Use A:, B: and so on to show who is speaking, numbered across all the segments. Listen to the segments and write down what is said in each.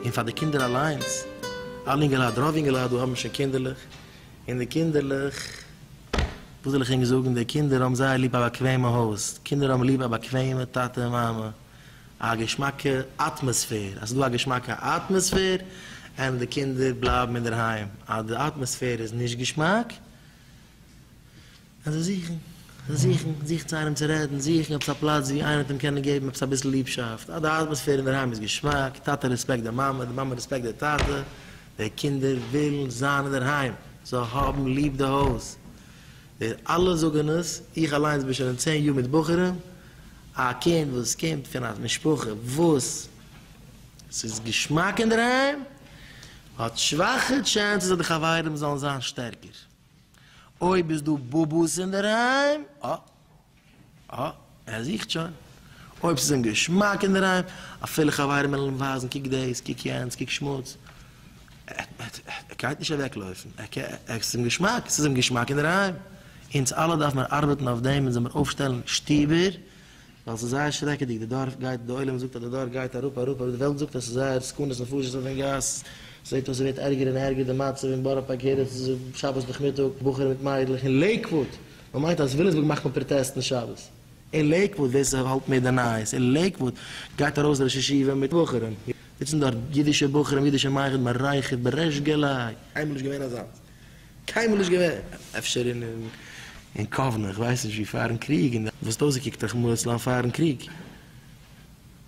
A: און פאר די קינדער אליינס, אלע אינגעלייט, רוב אינגעלייט דא האבן שוין קינדערלעך, און די קינדערלעך, וואס זאל איך ענק זאגן, די קינדער האבן זייער ליב א באקוועמע הויז, קינדער האבן ליב א באקוועמע טאטע און מאמע, א געשמאקע אטמאספער, אז ס'איז דא א געשמאקע אטמאספער, ענדערש די קינדער בלייבן אינדערהיים, אז די אטמאספער איז נישט געשמאק, קען זיי זוכן, זיי זוכן, זוכן צו איינעם צו רעדן, זוכן עפעס א פלאץ ווי איינער וועט אים קענען געבן עפעס אביסל ליבשאפט, אז די אטמאספער אינדערהיים איז געשמאק, טאטע רעספעקט די מאמע, די מאמע רעספעקט די טאטע, די קינדער ווילן זיין אינדערהיים, זיי האבן ליב די הויז, ווער אלע זאגען עס, איך אליינס בין שוין אין צען יאר מיט בחורים, א קינד וואס קומט פון א משפחה וואס ס'איז געשמאק אינדערהיים, האט שוואכע טשענסעס אז די חברים זאלן זיין שטערקער, אויב איז דא באבא'ס אינדערהיים, אה. אה, ער זוכט שוין. אויב ס'איז אים געשמאק אינדערהיים, אפילו חברים וועלן אים ווייזן קוק דאס, קוק יענץ, קוק שמוץ, ער גייט נישט אוועקלויפן. עס איז אים געשמאק, ס'איז אים געשמאק אינדערהיים. אונז אלע דארף מיר ארבעטן אויף דעם, אונז זעמיר אויפשטעלן שטובער, ווייל ס'איז זייער שרעקעדיג, די דור גייט, די עולם זאגט אז די דור גייט אראפ אראפ אראפ, די וועלט זאגט אז ס'איז זייער סכנת נפשות אויפן גאס, ס'זעט אויס ס'ווערט ערגער און ערגער די מצב אין בארא פארק יעדע שבת נאכמיטאג, בחורים מיט מיידלעך אין לעיקוואוד! מען מיינט אז וויליאמסבורג מאכט מען פראטעסטן שבת. אין לעיקוואוד, ווער ס'האלט מער די נייעס, אין לעיקוואוד גייט ארויס ראש ישיבה מיט בחורים, זיצן דארט אידישע בחורים, אידישע מיידל, מען רייכערט בריש גלי. קיינמאל נישט געווען אזאנס. קיינמאל נישט געווען. אפשר אין אין קאוונע, איך ווייס נישט ווי פארן קריג, און די וואסט אויסגעקוקט א כמו עצלן פארן קריג.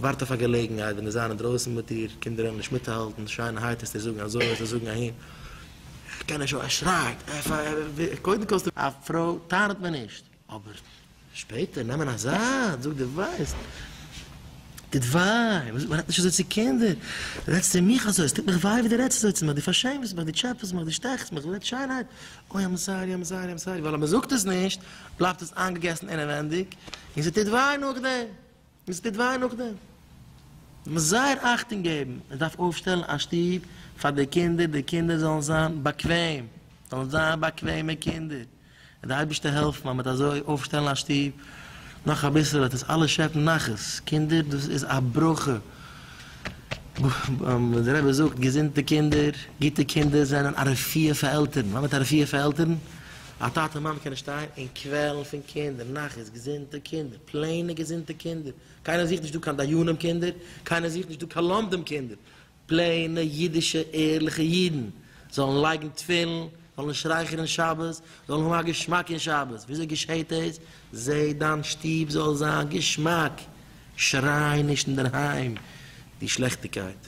A: ווארט אויף א געלעגנהייט ווען די זיינען דרויסן מיט איר קינדער ער נישט מיטהאלטן שיין הייט איז צו זאגן אזוי און צו זאגן אהין ער קען נישט ער שרייט קודם כל א פרוי טענה'ט מען נישט אבער שפעטער נעמען א זייט זאג די ווייסט טוט וויי וואס מען רעדט נישט אזוי צו קינדער רעדסט צו מיך אזוי עס טוט מיך וויי ווי די רעדסט אזוי צו מיך די פארשעמסט מיך די טשעפעסט מיך די שטעכסט מיך רעד שיינהייט אוי איים סארי איים סארי איים סארי ווייל אז מען זאגט עס נישט בלייבט עס איינגעגעסן אינעווענדיג. און ס'טוט וויי נאכדעם, און ס'טוט וויי נאכדעם. מ'מוז זייער אכטונג געבן, מ'דארף אויפשטעלן א שטוב פאר די קינדער, די קינדער זאלן זיין באקוועם, זאלן זיין באקוועמע קינדער, און די אייבערשטער העלפן אז מ'וועט אזוי אויפשטעלן א שטוב, נאך אביסל וועט אונז אלע שעפן נחת, קינדער דאס איז א ברכה, ווי דער רבי זאגט, געזונטע קינדער, גוטע קינדער זענען א רפואה פאר עלטערן, וואס מיינט א רפואה פאר עלטערן? א טאטע און מאמע קענען שטיין און קוועלן פון קינדער, נחת, געזונטע קינדער, פלעינע געזונטע קינדער, קיינער זוכט נישט דא קיין דיינים קינדער, קיינער זוכט נישט דא קיין לומדים קינדער, פלעינע אידישע ערליכע אידן, זאלן לייגן תפילין, זאלן שרייכענען שבת, זאלן האבן א געשמאק אין שבת, וויאזוי געשעהט דאס? זע דיין שטוב זאל זיין געשמאק, שריי נישט אינדערהיים די שלעכטיגקייט.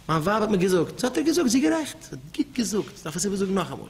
A: מיין ווייב האט מיר געזאגט, זאל האט ער געזאגט, זי איז גערעכט, זי האט גוט געזאגט, דארף איך סיבער זאגן נאכאמאל.